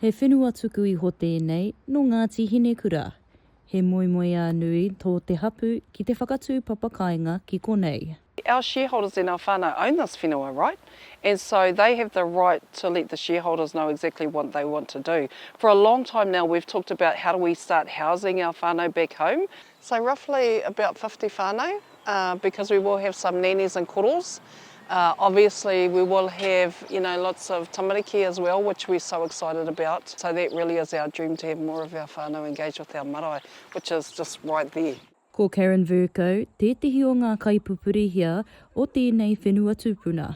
He whenua tuku iho tēnei nō Ngāti Hinekura. He moemoeā nui tō te hapū ki te whakatū papakāinga ki konei. Our shareholders and our whānau own this whenua right and so they have the right to let the shareholders know exactly what they want to do. For a long time now we've talked about how do we start housing our whānau back home. So roughly about fifty whanau because we will have some nannies and koros obviously we will have you know lots of tamariki as well which we so excited about so that really is our dream to have more of our whanau engage with our marae which is just right there. Ko Karen Vercoe tētehi o ngā kaipupurihia o tēnei whenua tupuna.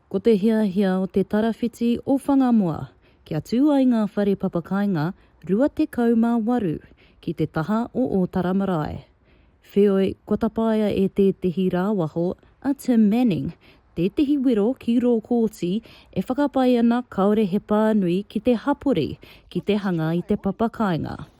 Ko te hiahia o Te Tarawhiti o Whangamoa kia tū ai ngā whare papakāinga 28 ki te taha o Ōtara marae. Wheoi, kua tapaia e tētehi rāwaho, a Tim Manning, tētehi wero ki rō kōti e whakapae ana kāore he pānui ki te hapori ki te hanga i te papakāinga.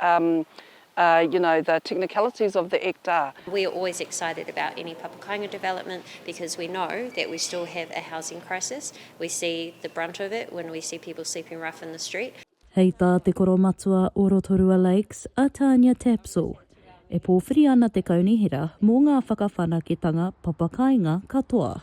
Um, uh, you know, the technicalities of the Act are. We are always excited about any papakāinga development because we know that we still have a housing crisis. We see the brunt of it when we see people sleeping rough in the street. Hei tā te koromatua o Rotorua Lakes, a Tania Tapsell, e pōwhiri ana te kaunihera mō ngā whakawhanaketanga papakāinga katoa.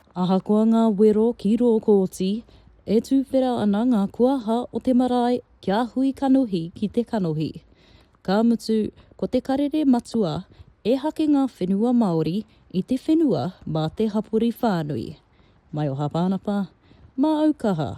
Ahakoa ngā wero ki rō kōti, e tūwhera ana ngā kuaha o te marae kia hui kanohi ki te kanohi. Ka mutu, ko te karere matua, ehake ngā whenua Māori i te whenua mā te hapori whānui. Maioha Pānapa, Māaukaha.